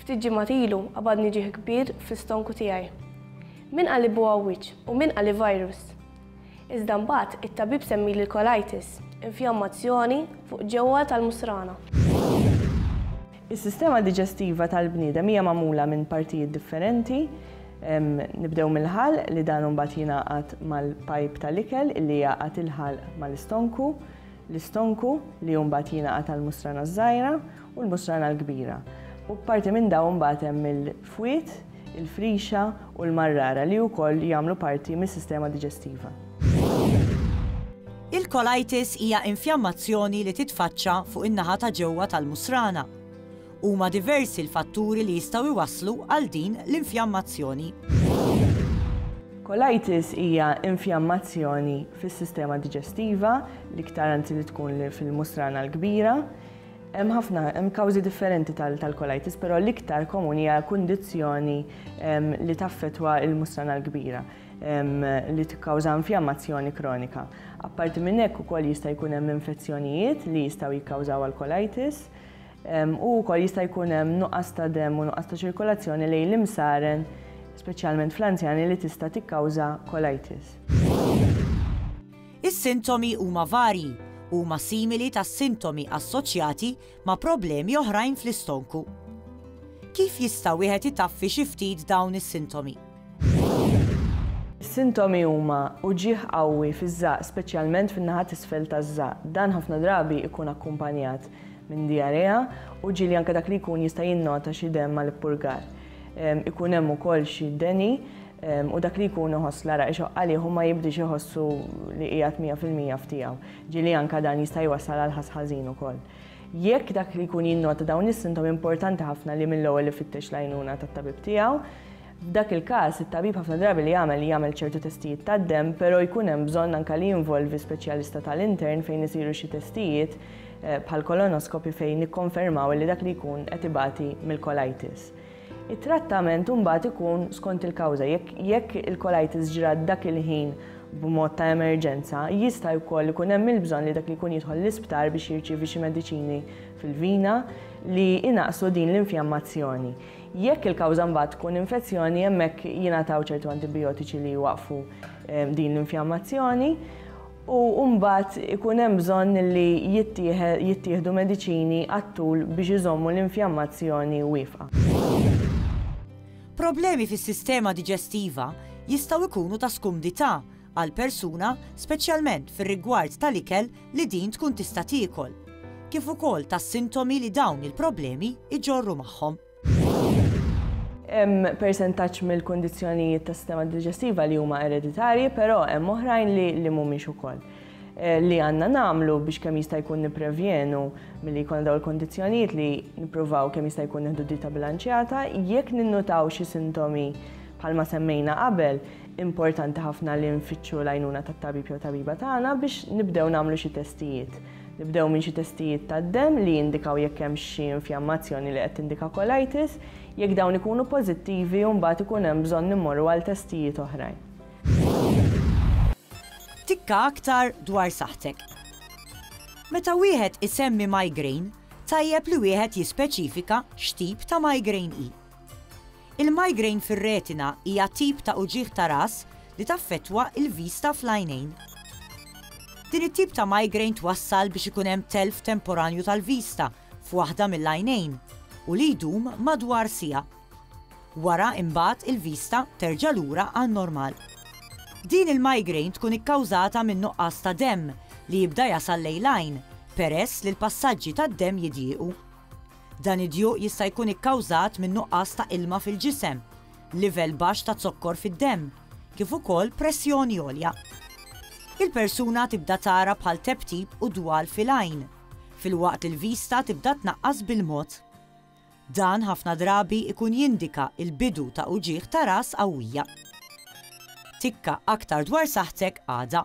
Ftit ġimgħat ilu qabadni ġieħ kbir fl-istonku tiegħi. Min qal li buha wiċċ u min qal li virus. Iżda mbagħad it-tabib semmili l-colitis, infjammazzjoni fuq ġewwa tal-musrana. Is-sistema diġestiva tal-bniedem hija magħmula minn partijiet differenti. Nibdew mill-ħalq li dan imbagħad jingħaqad mal-pajp tal-ikel li jgħaqqad il-ħalq mal-istonku, l-istonku li mbagħad jingħaqad għall-musrana ż-żgħira u l-Musrana l-Kbira, u parti minn dawn imbagħad hemm il-fwied, il-frixa u l-marrara li wkoll jagħmlu parti mis-sistema diġestiva. Il-colitis hija infjammazzjoni li titfaċċa fuq in-naħa ta' ġewwa tal-musrana. Huma diversi l-fatturi li jistgħu jwasslu għal din l-infjammazzjoni. Colitis hija infjammazzjoni fis-sistema diġestiva, l-iktar anzi li tkun fil-musrana l-kbira. Hemm ħafna, hemm kawżi differenti tal-colitis, però l-iktar komuni hija kundizzjoni li taffetwa il-musrana l-kbira li tikkawża infjammazzjoni kronika. Apparti minn hekk ukoll jista' jkun hemm infezzjonijiet li jistgħu jikkawżaw alkolitis u wkoll jista' jkun hemm nuqqas ta' dem u nuqqas ta' ċirkolazzjoni lejn l-imsaren, speċjalment fl-anzjani li tista' tikkawża colitis. Is-sintomi huma varji u huma simili tas-sintomi assoċjati ma' problemi oħrajn fl-istonku. Kif jista' wieħed itaffi xi ftit dawn is-sintomi? Is-sintomi huma uġigħ qawwi fiż-żaqq speċjalment fin-naħa t'isfel taż-żaqq. Dan ħafna drabi jkun akkumpanjat minn dijarea u ġieli anke dak li jkun jista' jinnota xi demm mal-ippurgar. Ikun hemm ukoll xi deni u dak li jkun iħoss l-għaraq ixoqq għalih u ma jibdiex iħossu li qiegħed mija fil-mija f'tiegħu, ġieli anke dan jista' jwassal għal ħass ħażin ukoll. Jekk dak li jkun jinnota dawn is-sintomi importanti ħafna li mill-ewwel ifittex l-għajnuna tat-tabib tiegħu. F'dak il-każ, it-tabib ħafna drabi li jagħmel jagħmel ċertu testijiet tad-demm, però jkun hemm bżonn anke li jinvolvi speċjalista tal-intern fejn isiru xi testijiet bħall-kolonoskopi fejn nikkonfermaw li dak li jkun qed ibati mill-colitis. It-trattament imbagħad ikun skont il-kawża. Jekk il-colitis ġrat dak il-ħin b'mod ta' emerġenza, jista' wkoll ikun hemm il-bżonn li dak li jkun jidħol l-isptar biex jirċievi xi mediċini fil-vina li jnaqqsu din l-infjammazzjoni. Jekk il-kawża mbagħad tkun infezzjoni, hemmhekk jingħataw ċertu antibijotiċi li jwaqqfu din l-infjammazzjoni. u mbagħad ikun hemm bżonn li jittieħdu mediċini għat-tul biex iżommu l-infjammazzjoni wieqfa. Problemi fis-sistema diġestiva jistgħu jkunu ta' skumdità għal persuna speċjalment fir-rigward tal-ikel li din tkun tista' tiekol, kif ukoll tas-sintomi li dawn il-problemi jġorru magħhom. Hemm persentaġġ mill-kundizzjonijiet tas-sistema diġestiva li huma ereditarji, però hemm oħrajn li li mhumiex ukoll. Eh, li għandna nagħmlu biex kemm jista' jkun nipprevjenu milli jkun dawn il-kondizzjonijiet li nippruvaw kemm jista' jkun nieħdu dita bilanċjata jekk ninnutaw xi sintomi bħalma semmejna qabel, importanti ħafna li nfittxu l-għajnuna tat-tabib jew tabiba tagħna biex nibdew nagħmlu xi testijiet. Nibdew minn xi testijiet tad-demm li jindikaw jekk hemmx xi infjammazzjoni li qed tindika colitis. Jekk dawn ikunu pożittivi, mbagħad ikun hemm bżonn immorru għal testijiet oħrajn. Tikka aktar dwar saħħtek. Meta wieħed isemmi migraine, tajjeb li wieħed jispeċifika x'tip ta' migraine hi. Il-migraine fir-retina hija tip ta' uġigħ ta' ras li taffettwa l-vista fl-għajnejn. Din it-tip ta' migraine twassal biex ikun hemm telf temporanju tal-vista f'waħda mill-għajnejn u li jdum madwar siegħa. Wara imbagħad il-vista terġa' lura għan-normal. Din il-migraine tkun ikkawżata minn nuqqas ta' demm li jibda jasal lejn l-għajn peress li l-passaġġi tad-demm jidjiequ. Dan id-djuq jista' jkun ikkawżat minn nuqqas ta' ilma fil-ġisem, livell baxx ta' zokkor fid-demm, kif ukoll pressjoni għolja. Il-persuna tibda tara bħal tebtib u dwal fil-għajn, filwaqt li l-vista tibda tnaqqas bil-mod. Dan ħafna drabi jkun jindika l-bidu ta' uġigħ ta' ras qawwija. Tikka aktar dwar saħħtek għada.